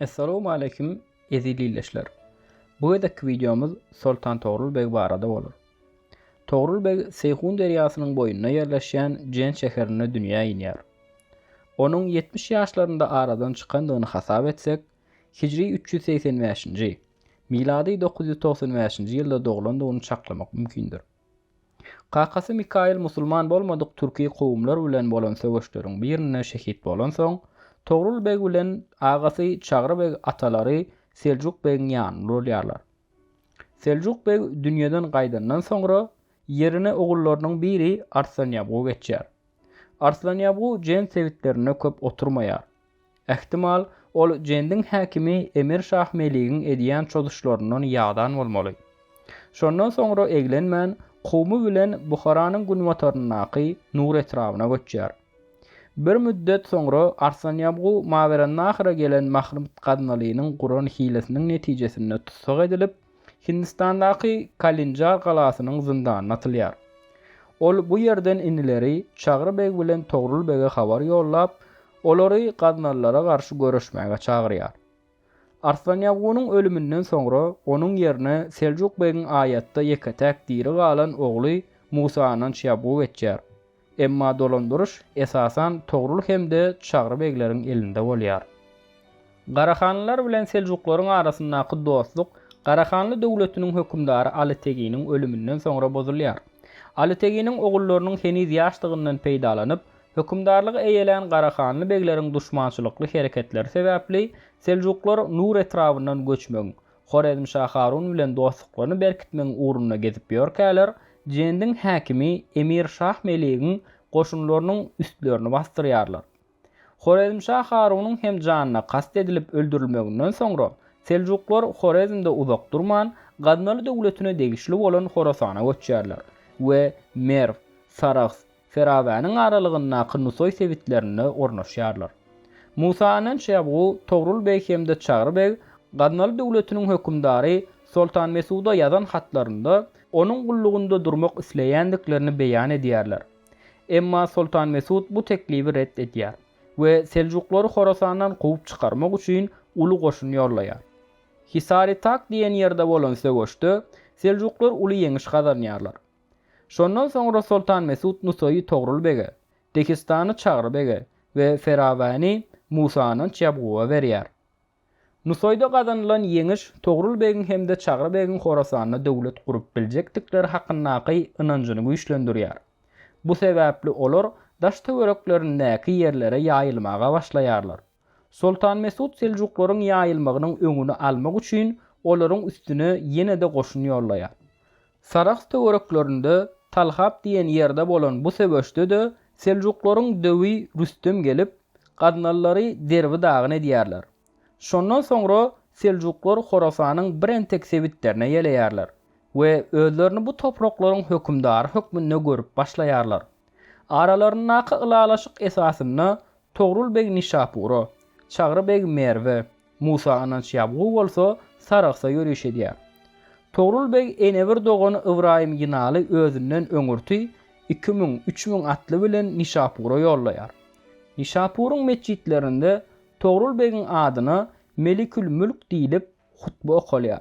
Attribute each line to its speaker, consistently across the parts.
Speaker 1: Essalamu aleýkum eziz ildeşler. Bu gezekki wideomyz Soltan Togrul beg barada bolar. Togrul beg Seýhun derýasynyň boýunda ýerleşýän Jen şäherinde dünýä inýär. Onuň 70 ýaşlarynda aradan çykandygyny hasap etsek, hijri 385-nji, milady 995-nji ýylda doglandygyny çaklamak mümkindir. Kakasy Mikail musulman bolmadyk türki kowumlar bilen bolan söweşleriň birinde şehit bolansoň, Togrul beg bilen agasy Çagry beg atalary Seljuk begiň ýanynda bolýarlar. Seljuk beg dünýeden gaýdandan soňra, ýerine ogullarynyň biri Arslanýabgu geçýär. Arslanýabgu Jen sebitlerinde köp oturmaýar, Ähtimal, ol Jendiň häkimi Emir Şah Meligiň edýän çozuşlaryndan ýadan bolmaly. Şondan soňra eglenmän, kowumy bilen Buharanyň günbataryndaky Nur etrabyna göçýär. Bir müddet soňra Arslanýabgu Mawerannahyra gelen Mahrymd Gaznalynyň guran hilesiniň netijesinde tussag edilip, Hindistandaky Kalinjar galasynyň zyndanyna atylýar. Ol bu ýerden inileri Çagry beg bilen Togrul bege habar ýollap, olary gaznalylara garşy göreşmäge çagyrýar. Arslanýagunyň ölüminden soňra onuň ýerine Seljuk begiň aýatda ýeke-täk diri galan ogly Musa Ananç Ýabu geçýär. Emma dolandyryş, esasan, Togrul hem-de Çagry begleriň elinde bolýar. Garahanlylar bilen seljuklaryň arasyndaky dostluk Garahanly döwletiniň hökümdary Aly Teginiň ölüminden soňra bozulýar. Aly Teginiň ogullarynyň heniz ýaşdygyndan peýdalanyp, hökümdarlygy eýelän Garahanly begleriň duşmançylykly hereketleri sebäpli seljuklar Nur etrabyndan göçmegiň, Horezmşa Harun bilen dostluklaryny berkitmegiň ugrunda gezip ýörkäler, Jendiň häkimi emir Şah Meligiň goşunlarynyň üstlerini basdyrýarlar. Horezmşa Harunyň hem janyna kast edilip öldürilmeginden soňra, seljuklar Horezmde uzak durman, Gaznaly döwletine degişli bolan Horasana göçýärler we Merw, Sarahs, Fergawanyň aralygyndaky Nusaý sebitlerinde ornaşýarlar. Musa Anan Şebgu, Togrul beg hem-de Çagry beg Gaznaly döwletiniň hökümdary Soltan Mesuda ýazan hatlarynda onuň gullugynda durmak isleýändiklerini beýan edýärler. Emma Soltan Mesut bu teklibi ret edýär we seljuklary Horasandan kowup çykarmak üçin uly goşun ýollaýar. Hisari-Tak diýen ýerde bolan söweşde seljuklar uly ýeňiş gazanýarlar. Şondan soňra Soltan Mesut Nusaýy Togrul bege, Dehistany Çagry bege we Ferawäni Musananç Ýabguwa berýär. Nusaýda gazanylan ýeňiş Togrul begiň hem-de Çagry begiň Horasanda döwlet gurup biljekdikleri hakyndaky ynanjyny güýçlendirýär. Bu sebäpli olar daş-töwereklerindäki ýerlere ýaýylmaga başlaýarlar. Soltan Mesut seljuklaryň ýaýylmagynyň öňüni almak üçin olaryň üstüne ýene-de goşun ýollaýar. Sarahs töwereklerinde Talhap diýen ýerde bolan bu söweşde-de seljuklaryň döwi Rüstem gelip, gaznalylary derbi-dagyn edýärler. Şondan soňra seljuklar Horasanyň bir entek sebitlerine ýeleýärler we özlerini bu topraklaryň hökümdary hökmünde görüp başlaýarlar. Aralaryndaky ylalaşyk esasynda Togrul beg Nişapura, Çagry beg Merwe, Musa Ynanç Ýabgu bolsa Sarahsa ýöriş edýär. Togrul beg enebir dogany Ybraýym Ýynaly özünden öňürti iki müň, üç müň atly bilen Nişapura ýollaýar. Nişapuryň metjitlerinde Togrul begiň adyna Melikül mülk diýlip hutba okalýar.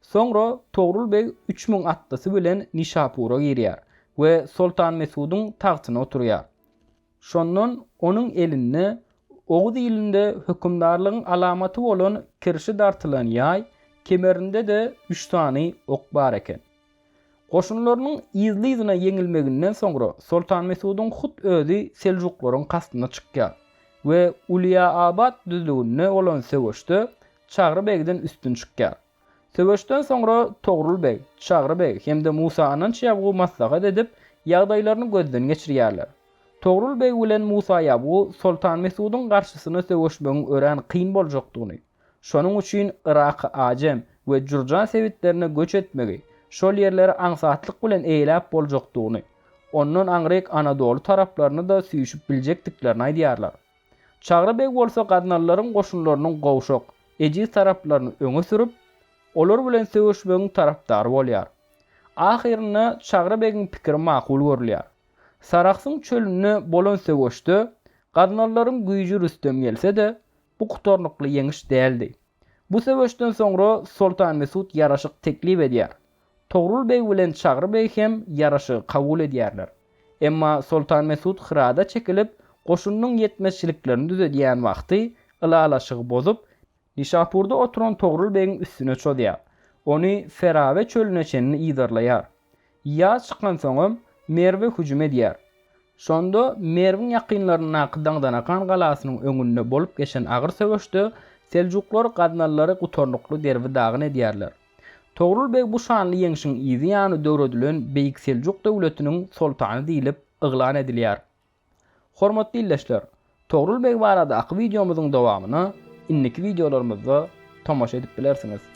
Speaker 1: Soňra Togrul beg üç müň atlysy bilen Nişapura girýär we Soltan Mesudyň tagtyna oturýar. Şondan onuň elinde oguz ilinde hökümdarlygyň alamaty bolan kirşi dartylan ýaý, kemerinde-de üç sany ok bar eken. Goşunlarynyň yzly-yzyna ýeňilmeginden soňra Soltan Mesudyň hut özi seljuklaryň kastyna çykýar we Ulyýaabat düzlüginde bolan söweşde Çagry begden üstün çykýar. Söweşden soňra Togrul beg, Çagry beg hem-de Musa Ananç Ýabgu maslahat edip, ýagdaýlaryny gözden geçirýärler. Togrul beg bilen Musa Ýabgu Soltan Mesudyň garşysyna söweşmegiň örän kyn boljakdygyny, şonuň üçin Yraky Ajem we Jurjan sebitlerine göç etmegi, şol ýerleri aňsatlyk bilen eýeläp boljakdygyny, ondan aňryk Anadoly taraplaryny-da süýşüp biljekdiklerini aýdýarlar. Çagry beg bolsa gaznalylaryň goşunlarynyň gowşak, ejiz taraplaryny öňe sürüp, olar bilen söweşmegiň tarapdary bolýar. Ahyrynda Çagry begiň pikiri makul görülýär. Sarahsyň çölünde bolan söweşde gaznalylaryň güýji rüstem gelse-de, bu gutarnykly ýeňiş däldi. Bu söweşden soňra Soltan Mesut ýaraşyk teklip edýär. Togrul beg bilen Çagry beg hem ýaraşygy kabul edýärler. Emma Soltan Mesut Hyrada çekilip, goşunynyň ýetmezçiliklerini düzedýän wagty ylalaşygy bozup, Nişapurda oturan Togrul begiň üstüne çozýar. Ony Ferawe çölüne çenli yzarlaýar. Ýaz çykansoňam, Merwe hüjüm edýär. Şonda Merwiň ýakynlaryndaky Daňdanakan galasynyň öňünde bolup geçen agyr söweşde seljuklar gaznalylary gutarnykly derbi-dagyn edýärler. Togrul beg bu şanly ýeňşiň yzy ýany döredilen Beýik Seljuk döwletiniň soltany diýlip yglan edilýär. Hormatly ildeşler, Togrul beg baradaky wideomyzyň dowamyna indiki wideolarymyzda tomaşa edip bilersiňiz.